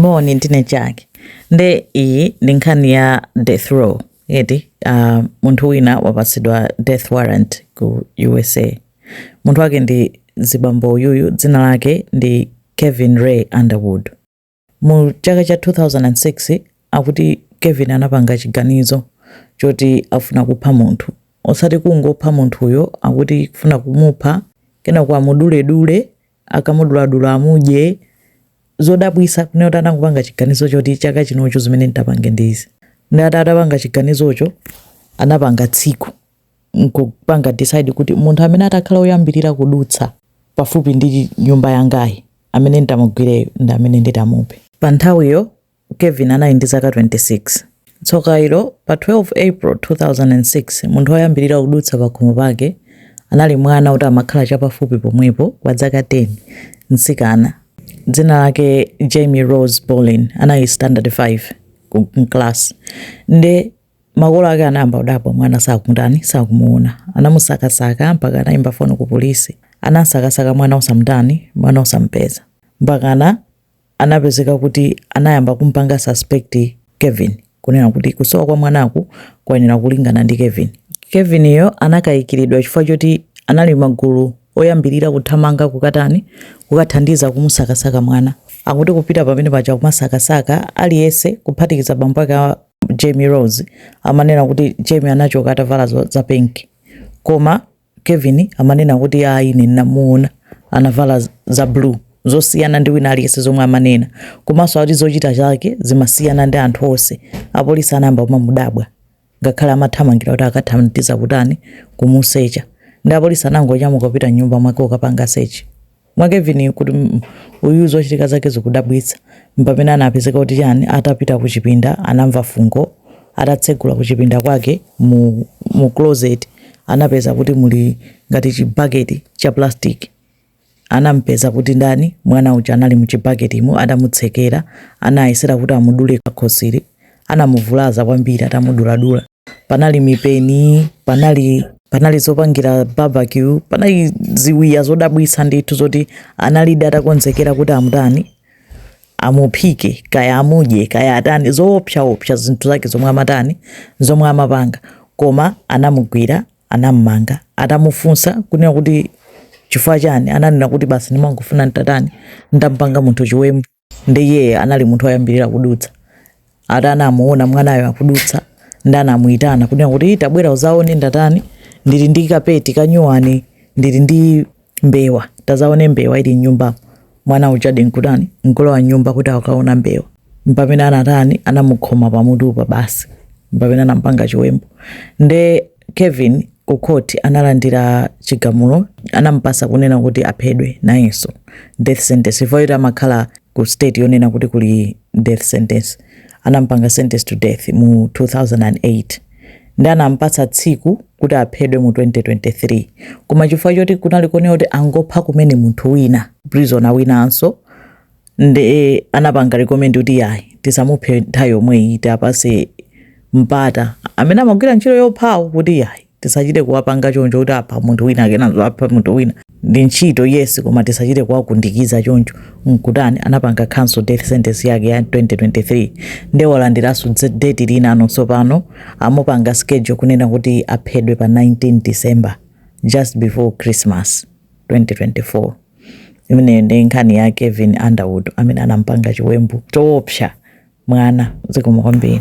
Moni, ndine Jack. Nde iyi ndi nkhani ya death row eti uh, munthu wina wapatsidwa death warrant ku USA. Munthu wake ndi zibambo uyu dzina lake ndi Kevin Ray Underwood. Mu chaka cha 2006 akuti Kevin anapanga chiganizo choti afuna kupha munthu osati kungopha munthuyo akuti kufuna kumupha kenako amuduledule akamuduladula amudye zodabwisa kunena kuti anangopanga chiganizo choti chaka chinocho zimene nditapange ndi izi nde ati atapanga chiganizocho anapanga tsiku nkupanga decide kuti munthu amene atakhala oyambirira kudutsa pafupi ndi nyumba yangayi amene nditamugwireyo ndi amene nditamuphe pa nthawiyo Kevin anali ndi zaka 26. Tsoka ilo, pa 12 April, 2006, munthu woyambirira kudutsa pakhomo pake anali mwana woti amakhala chapafupi pomwepo wa zaka 10, mtsikana. Dzina lake Jamie Rose Bolin. Anali standard 5 ku m'kalasi. Nde makolo ake anayamba kudabwa mwana sakumutani, sakumuona. Anamusakasaka mpaka anaimba foni ku polisi. Anamsakasaka mwana osamutani, mwana osamupeza. Mpakana anapezeka kuti anayamba kumpanga suspect Kevin kunena kuti kusowa kwa mwanaku kuyenera kulingana ndi Kevin. Kevin yo anakayikiridwa chifukwa choti anali magulu oyambirira kuthamanga kukatani kukathandiza kumusakasaka mwana. Akuti kupita pamene paja kumasakasaka aliyese kuphatikiza bambo ake a Jamie Rose amanena kuti Jamie anachoka atavala za pink. Koma Kevin amanena kuti ayi ine ndinamuona anavala za blue zosiyana ndi wina aliyense zomwe amanena komanso akuti zochita zake zimasiyana ndi anthu onse apolisi anayamba kumamudabwa ngakhale amathamangira kuti akathandiza kutani kumusecha nde apolisi anangonyamuka kupita m'nyumba mwake kukapanga sechi mwa Kevin kuti mm, uyu zochitika zake zikudabwitsa mpamene anapezeka kuti chani atapita ku chipinda anamva fungo atatsegula ku chipinda kwake mu, mu closet anapeza kuti muli ngati chibaketi cha plastic anampeza kuti ndani mwana uja anali muchibaketimo adamutsekera anayesera kuti amudule kakhosiri anamuvulaza kwambiri atamuduladula. Panali mipeni, panali panali zopangira barbecue, panali ziwiya zodabwitsa ndithu zoti analidi atakonzekera kuti amutani amuphike kaya amudye kaya atani zoopsaopsa zinthu zake zomwe amatani zomwe amapanga koma anamugwira anammanga atamufunsa kunena kuti chifukwa chani ananena kuti basi ndimangofuna ntatani ndampanga munthu chiwembu ndi iye anali munthu woyambirira kudutsa ati anamuona mwanayo akudutsa ndi anamuyitana kunena kuti tabwera uzaone ndatani ndili ndi kapeti kanyuwani ndili ndi mbewa tazaone mbewa ili mnyumbamo mwana ujadi nkutani nkulowa nyumba kuti akaone mbewa mpamene anatani anamukhoma pamutupa basi mpamene anampanga chiwembu nde Kevin ku court analandira chigamulo anampatsa kunena kuti aphedwe nayenso death sentence chifukwa choti amakhala ku state yonena kuti kuli death sentence anampanga sentence to death mu 2008 ndi anampatsa tsiku kuti aphedwe mu 2023 koma chifukwa choti kunali konena kuti angopha kumene munthu wina prisoner winanso nde anapanga recommend kuti yayi tisamuphe nthawi yomweyi tiapatse mpata amene amagwira ntchito yophawo kuti yayi tisachite kuwapanga choncho kuti apha munthu wina kenanso apha munthu wina ndi ntchito yes koma tisachite kuwakundikiza choncho nkutani anapanga cancel death sentence yake ya 2023 nde walandiranso dze- date linanso pano amupanga schedule kunena kuti aphedwe pa 19 december just before christmas 2024 imeneyo ndi nkhani ya kevin underwood amene anampanga chiwembu choopsa mwana zikomo kwambiri